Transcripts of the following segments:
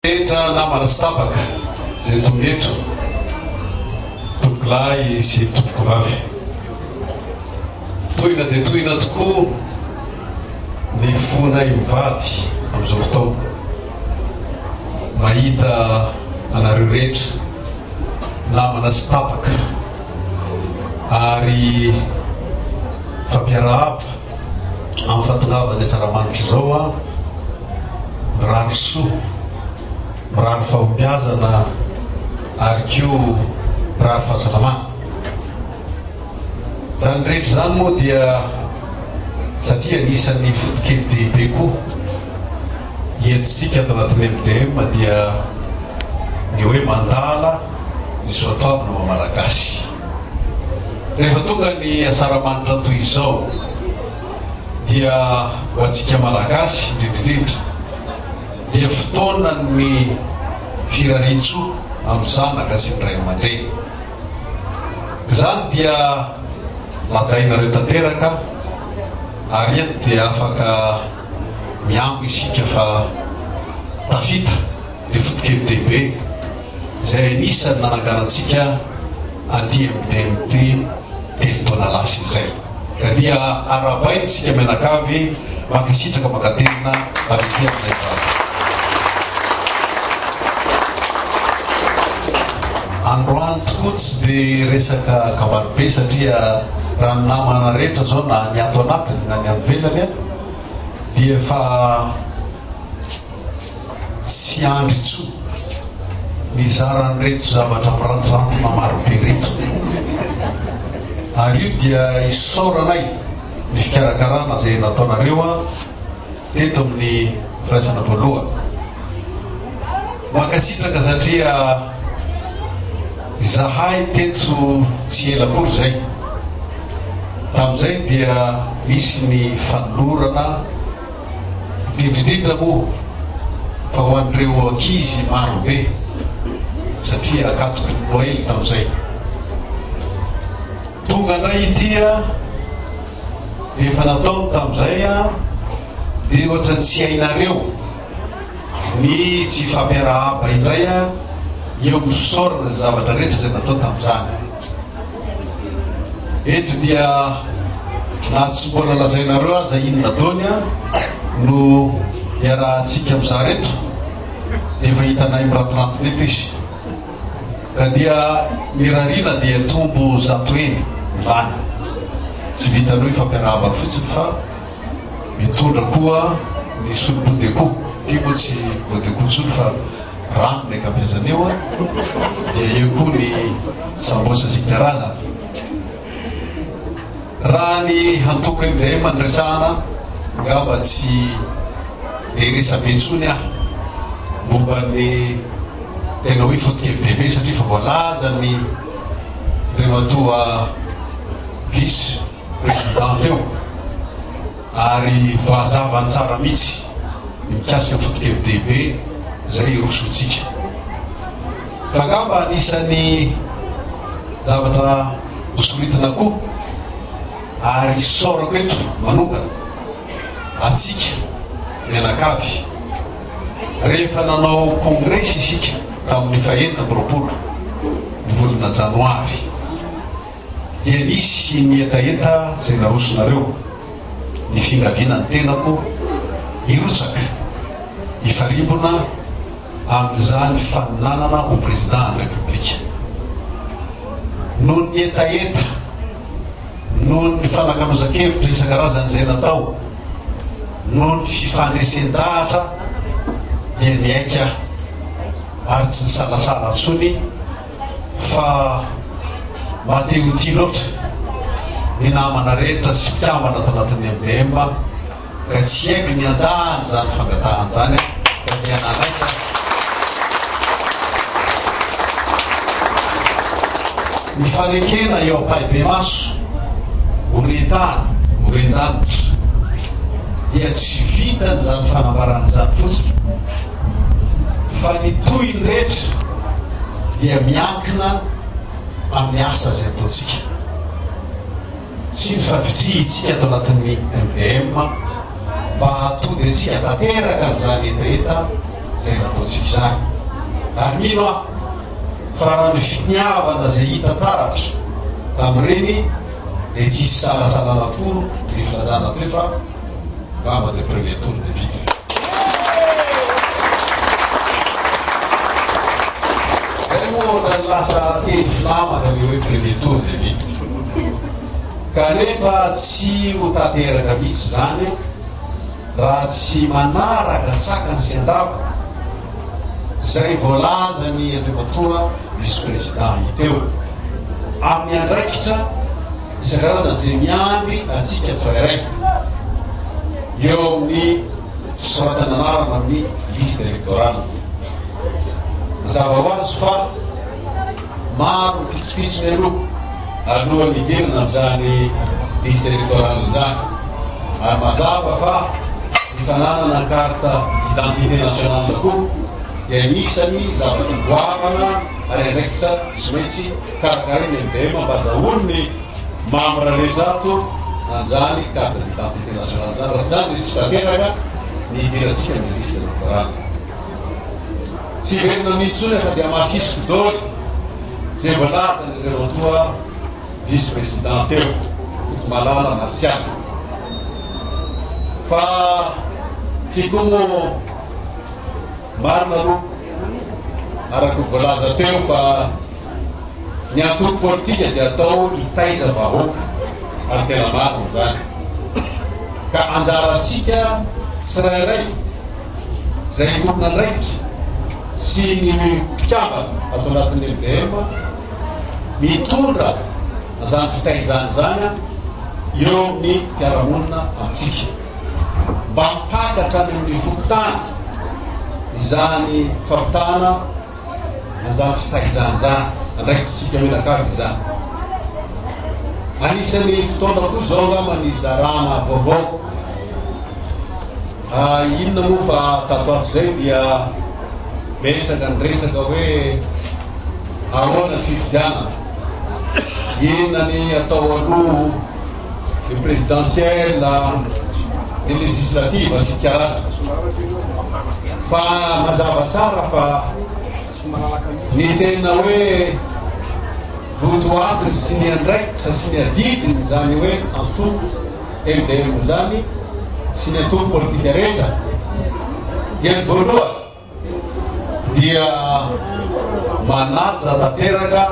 Tendra namana sy tabaka izay tonga eto, tompolahy sy tompokovavy. Tohina dia tohina tokoa ny fonay mivady amin'izao fotoana, mahita anareo rehetra namana sy tabaka ary fampiarahaba. amin'ny fahatongavan'ny asaramanitra izao aho mirary soa, mirary fahombiazana ary koa mirary fahasalamana. Izany rehetra izany moa dia satria anisan'ny fotokely dehibe koa hientintsika ato anatin'ny MDM dia ny hoe mandala ny soatoavina maha-malagasy. Rehefa tonga ny asaramanitra toy izao dia ho antsika Malagasy indrindrindrindra dia fotoanan'ny firarian-tsoa amin'ny zanaka sy ny ray aman-dreny. Izany dia lazainareo tanteraka ary eto dia afaka mihambo isika fa tafita. ny fotokely Debe izay anisan'ny nananganantsika aty amin'ny DMT telo taona lasa izay ka dia arahabaina isika mianakavy mankasitraka mankaterina avy aty amin'izay vaza androany tokoa tsy dia resaka kabary be satria raha ny namana rehetra izao na ny ato anatiny na ny any velany dia efa Tsy andry intsony mizara an'ireto zavatra mirantirantona maro be ireto. Ary io dia isaoranay ny fikarakarana izay nataonareo teto amin'ny firaisana voalohany. Mankasitraka satria izahay teto tsy ela akory izay, tamin'izay dia nisy ny fanolorana, indrindra indrindra moa fa ho an'ireo ankizy maro be satria akatoky ny Noely tao izay. Tonga indray ity a, efa nataony tamin'izay a, dia ohatra ny tsy hainareo ny tsy fampiarahaba indray a, eo amin'ny fisaorana izay zavatra rehetra izay natao tamin'izany. Eto dia na tsy mbola lazainareo aza inona dony no iarahantsika mizara eto dia efa hitanay mirantirantina eto izy. Ka dia ny rariana dia tombo zato heny ny lany. Tsy vitan'io ifampiarahabana fotsiny fa mitondra koa ny solobodeco. Ty moa tsy bodeco intsony fa rano ilay kampezany eo an, dia eo koa ny sambos isan-karazany. Raha ny hantoko MDM no resahana, angamba tsy dia resabe intsony aho momba ny tena hoe foto-kevitra be satria efa voalaza ny ireo matoa vice président teo. Ary voazava tsara mihitsy ny mikasika ny foto-kevi-dehibe izay hirosoantsika. Fa angamba anisan'ny zavatra hosoritana koa ary isaorako eto manokana antsika mianakavy, rehefa nanao kongresy isika tamin'ny fahenina amby roapolo ny volana janoary, dia nisy ny hetaheta izay narosonareo, ny fingaviana ny tenako hirotsaka hifarimbona amin'izany faninanana ho Président ny République. Noho ny hetaheta, noho ny fanakalozan-kevitra isan-karazany izay natao, noho ny fifandresen-dahatra dia nihaika aho ary tsy nisalasala intsony fa madio ho tia loatra ny namana rehetra sy mpikambana ato anatin'ny MDM ka tsy haiko ny andahan' izany fangatahana izany fa dia nanaiky aho ny fanekena eo am-pahibemaso horen-tany horen-danitra dia tsy vitan'izany fanambarana izany fotsiny fa ny tohiny rehetra dia miankina amin'ny asa izay ataontsika sy ny favitrihintsika ato anatin'ny MDM mba hahatody antsika tanteraka amin'izany hetaheta izay nataontsika izany. Ary mino aho fa raha ny finiavana izay hita taratra tamin'ireny dia tsy hisy salasalana tokoa ny filazana teo fa Bravo le premier tour député. Zay moa ohatrany lasa teny filamatra le hoe premier tour député. Kanefa tsy ho tanteraka mihitsy zany raha tsy manaraka sakany sy andavany zay voalazan'i Andriamatoa vice-président teo amin'ny andraikitra isan-karazany izay miandry antsika tsirairay eo amin'ny fisoratana anarana amin'ny liste électorale. Mazava ho azy fa maro ny pitsopitso mialoha alohan'ny hidirana amin'izany liste électorale izany ary mazava fa ny fananana carte d'identité nationale tokoa dia anisany zavatra goavana ary andraikitra tsy maintsy Ka gay ny Dem mba daholo ny membres rehetra ato anjany carte d'identité nationale zany raha tsy zany dia tsy tanteraka ny hidirantsika amin'ny liste électorale. Tsy hiverina amin'iny intsony aho fa dia mahasisiko daholo izay voalazan'ireo etoa vice président teo, Kotomalala, Martial. Fa ty koa moa. Marina aloha araka ny voalaza teo fa ny antoko politika dia atao hitaiza vahoaka ary tena marina izany ka anjarantsika tsirairay izay tompon'andraikitra sy ny mpikambana ato anatin'ny MVM mitondra an'izany fitaizana izany eo amin'ny mpiara-monina amintsika. mba hampangatra any amin'ny fokontany izany fampitahana na izany fitaizana izany, andraikitrintsika mianakavy izany. Anisan'ny fotoana koa izao angamba ny zarana vaovao. Ah, inona moa fa tato ato izay dia betsaka ny resaka hoe ahoana ny fifidianana, inona ny atao aloha ny présidentielle na ny législative sy ny karazany fa mazava tsara fa ny tena hoe votoatiny sy ny andraikitra sy ny adidiny izany hoe antoko MDM izany sy ny antoko politika rehetra dia ny voalohany dia manaja tanteraka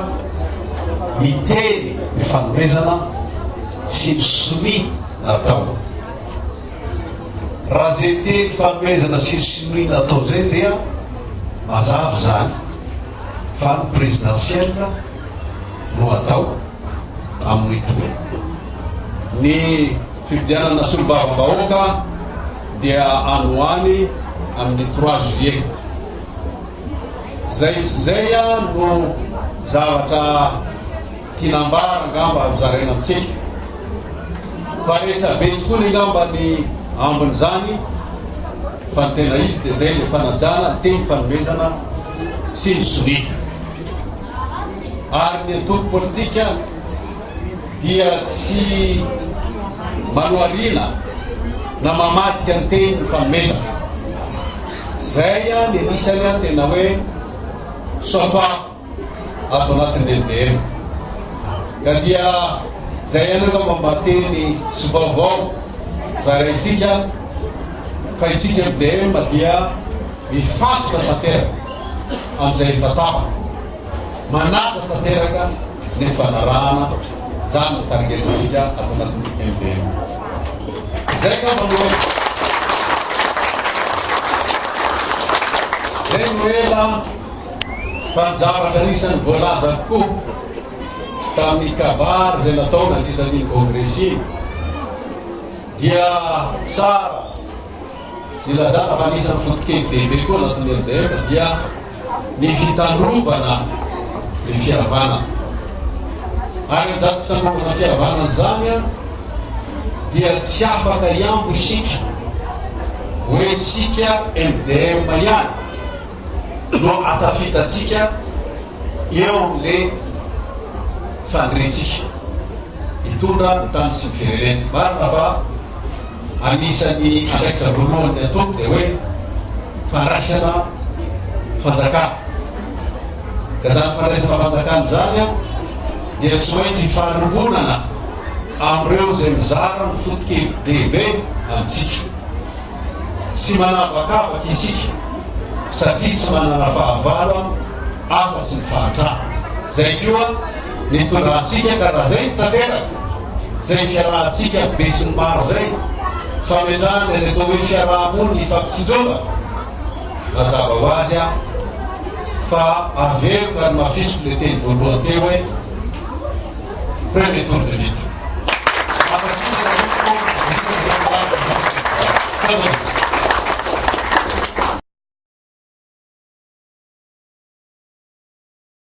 ny teny ny fanomezana sy ny sonia natao. Raha izay teny fanomezana sy ny sonia natao izay dia mazava izany fa ny présidentielle no hatao amin'ny toerana ny fifidianana solombavambahoaka. dia any ho any amin'ny trois juillet. Izay sy izay no zavatra tiana ambara angamba ry zareo amintsika. Fa resabe tokoa ny angamba ny ambin'izany fa ny tena izy dia izay ilay fanajana, ny teny fanomezana sy ny sonia. Ary ny antoko politika dia tsy manohariana na mamadika ny teny ny fanomezana. Izay ny anisany tena hoe soatoavina ato anatin'ny MDM. Ka dia izay ihany angamba mba teny sy vaovao zaraintsika fa isika MDM dia mifantoka tanteraka amin'izay efa tapaka. Manaja tanteraka ny fanarahana izany no tarigelintsika ato anatin'ny MBM. Izay angamba no hoe izay no ela fa ny zavatra anisan'ny voalaza koa tamin'ny kabary izay natao nandritra an'iny kongresy iny dia tsara Ilazana fa anisan'ny foto-kevitra lehibe koa anatin'ny MDM dia ny fitalovana ny fihavanana. Ary amin'izany fitalovana fihavanana izany dia tsy afaka hihambo isika hoe isika MDM ihany no ahatafitantsika eo amin'ilay faniriantsika hitondra ny tany sy ny firenena. Marina fa. Anisan'ny andraikitra voalohany ataoko dia hoe fandraisana fanjakana. Ka izany fandraisana fanjakana izany dia tsy maintsy fanompoanana amin'ireo izay mizara ny foto-kevi-dehibe amintsika. Tsy manavakavaka isika satria tsy manana fahavalo afa-tsy ny fahantrana. Izay koa. Nitondra antsika ka raha izay no tanteraka, izay fiarahantsika besinimaro izay, fametrahana ny atao hoe fiaraha-mony hifampitsinjovana, mazava ho azy an, fa averiko ary mafisiko ilay teny voalohany teo hoe premier tour de lutte.